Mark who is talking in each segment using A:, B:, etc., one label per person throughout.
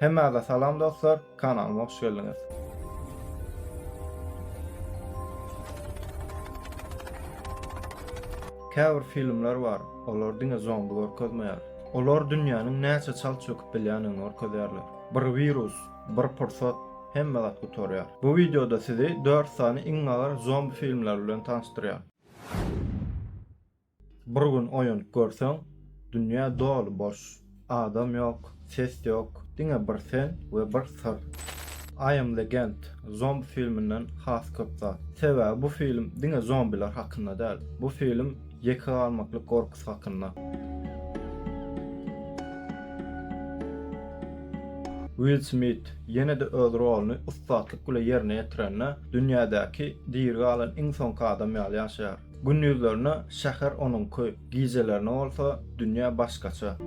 A: Hemmäze salam dostlar, kanalyma hoş geldiňiz. Käbir filmler bar, olar diňe zombi görkezmeýär. Olar dünýäniň näçe çalt çöküp bilýänini görkezýärler. Bir wirus, bir pursat, hemme zat gutarýar. Bu wideoda sizi 4 sany iň agyr zombi filmleri bilen tanyşdyrýan. Bir gün oýanyp görseň, dünýä doly boş. Adam ýok, ses ýok, diňe bir sen we bir syr. I am Legend zombi filminden has köp zat. Sebäbi bu film diňe zombiler hakynda däl. Bu film ýeke galmaklyk gorkusy hakynda. Will Smit ýene-de öz roluny ussatlyk bile ýerine ýetirende, dünýädäki diri galan iň soňky adam ýaly ýaşaýar. Gündizlerine şäher onuňky, gijelerine bolsa dünýä başgaça.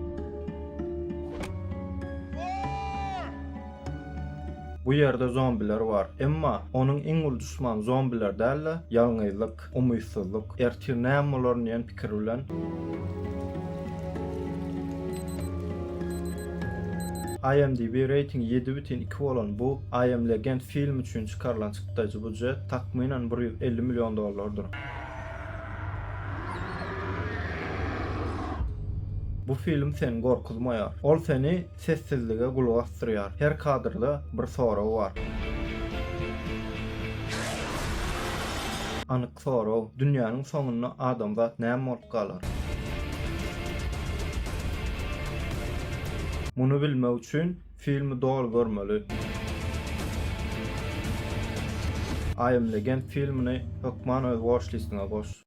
A: Bu ýerde zombiler bar. Emma onuň iň uly duşmany zombiler däl-de, ýalňyzlyk, umytsyzlyk. Ertir näme bolaryn diýen pikir bilen. IMDb reýtingi ýedi bütin iki bolan bu I Am Legend filmi üçin çykarylan çykdajy budjet takmynan bir ýüz elli million dollardyr. Bu film seni gorkuzmaýar. Ol seni sessizlige gulak asdyrýar. Her kadrda bir sorag bar. Anyk sorag, dünýäniň soňunda adamzat näme bolup galar? Muny bilmek üçin Filmi doly görmeli. I am Legend filmini hökman öz watch listiňe goş.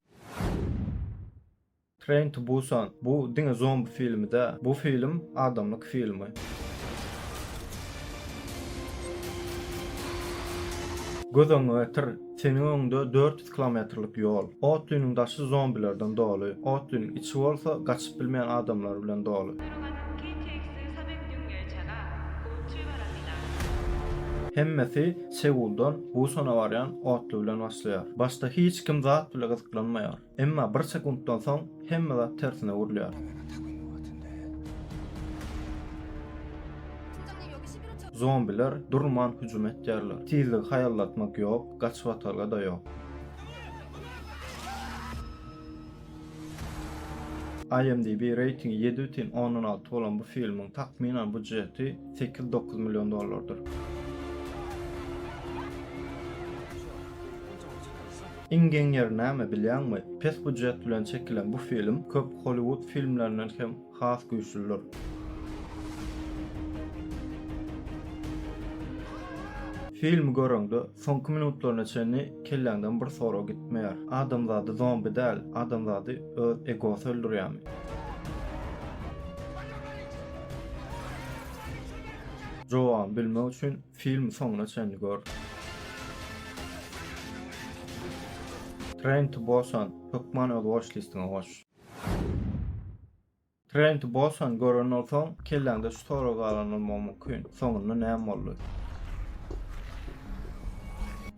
A: Train to Busan bu diňe zombi filmi dä, bu film adamlyk filmi. Göz öňüňe getir, seniň öňüňde dört kilometrlik ýol. Otlynyň daşy zombilerden doly, otlynyň içi bolsa gaçyp bilmeýän adamlar bilen doly. Hemmesi Seuldan Busana barýan otly bilen başlaýar. Başda hiç kim zat bile gyzyklanmaýar. Emma bir sekuntdan soň hemme zat tersine öwrülýär. Zombiler durman hüjüm etýärler. Tizligi haýallatmak ýok. Gaç watalga da yok. IMDb reytingi ýedi bütin ondan alty bolan bu filmiň takmynan budjeti sekiz dokuz million dollardyr. Iň geň ýeri näme bilýäňmi? Pes budjet bilen çekilen bu film köp Hollywood filmlerinden hem Has güýçliler. Filmi göreňde, soňky minutlaryna çenli kelläňden bir sorag gitmeýär. Adamzady zombi däl, adamzady öz egosy öldürýärmi? Jogabyny bilmek üçin filmi soňuna çenli gör. Train to Busan hökman öz watchlist-iňe goş. Trent Bosan gören bolsaň, kelläňde şu sorag galan bolmagy mümkin. Soňunda näme boldy?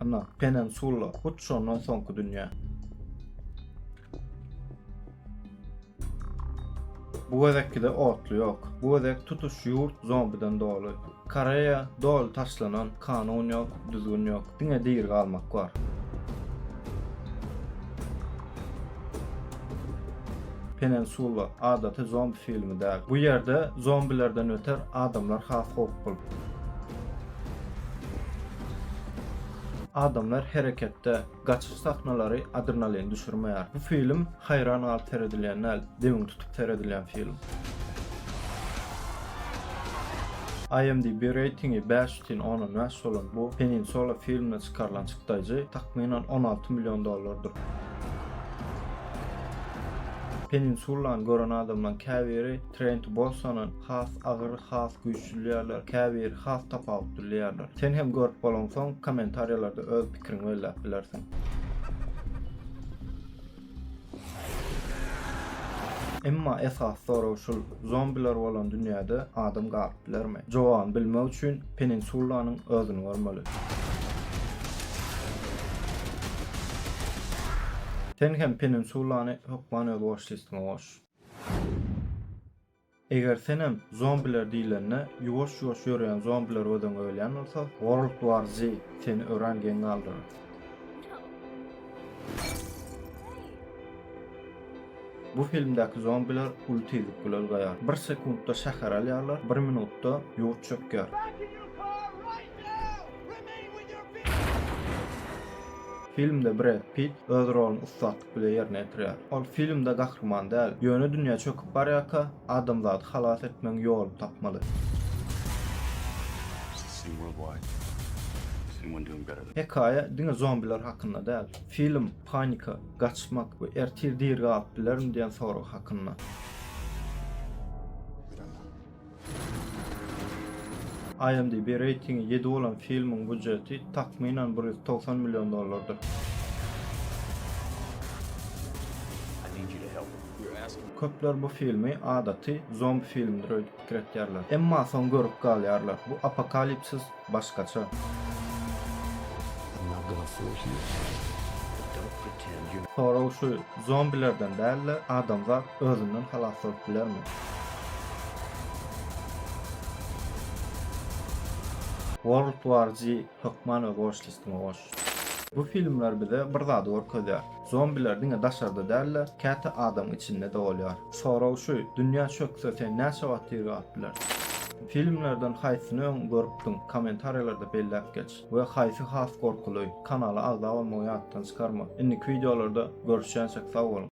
A: Ana, Penensula, hut şondan soňky dünýä. Bu gezekki-de otly ýok. Bu gezek tutuş ýurt zombidan doly. Koreýa doly taşlanan, kanun ýok, düzgün ýok, diňe diri galmak bar. Penensula adaty zombi filmi däl. Bu ýerde zombilerden öter adamlar has howply. Adamlar hereketde. Gaçyş sahnalary adrenalin düşürmeýär. Bu film haýran galyp seredilýän däl, demini tutup seredilýän film. IMDb reýtingi bäş bütin ondan bäş bolan bu Peninsula filmine çykarylan çykdaýjy takmynan on alty million dollardyr. Peninsulany gören adamlaryň käbiri Train to Busan-a has agyr, has güýçli diýýärler, käbiri has tapawutly diýýärler. Sen hem görüp bolaňsoň, kommentariýalarda öz pikiriňi belläp bilersiň. Emma esasy sorag şul, zombiler bolan dünýäde adam galyp bilermi? Jogabyny bilmek üçin Peninsulanyň özüni görmeli. Sen hem Peninsulany hökman öz watchlistňe goş. Eger senem zombiler diýlende ýuwaş ýuwaş ýörýän zombiler göziňe ölýän bolsa world war z seni örän geň galdyrar. Bu filmdäki zombiler uly tizlik bilen ulgaýar. Bir sekuntda şäher alýarlar, bir minutda ýurt çökýär. Filmde Bred Pitt öz roluny ussat bile ýerine ýetirýär. Ol filmde gahryman däl, ýöne dünýä çöküp barýarka, adamzady halas etmegiň ýoluny tapmaly. Hekaýa diňe zombiler hakynda däl. Film panika, gaçmak we ertir diri galyp bilerin diýen sorag hakynda. IMDb reýtingi ýedi bolan filmiň býujeti takmynan bir ýüz togsan million dollardyr. Köpler bu filmi adaty zombi filmidir öýdüp pikir etýärler. Emma soň görüp galýarlar, bu apokalipsis Başgaça. Sorag şu, zombilerden däl-de, adamzat özünden halas bolup bilermi? World War Z hökman öz watch-listime goş. Bu filmler bize bir zady görkezýär. Zombiler diňe daşarda däl-de, käte adamyň içinde-de bolýar. Sorag şu, dünýä çökse sen näçe wagt diri galyp bilersiň? Filmlerden haýsyny öň görüpdiň? Kommentariýalarda belläp geç. We haýsy has gorkuly? Kanala agza bolmagy ýatdan çykarma. Indiki wideolarda görüşýänçek sag boluň.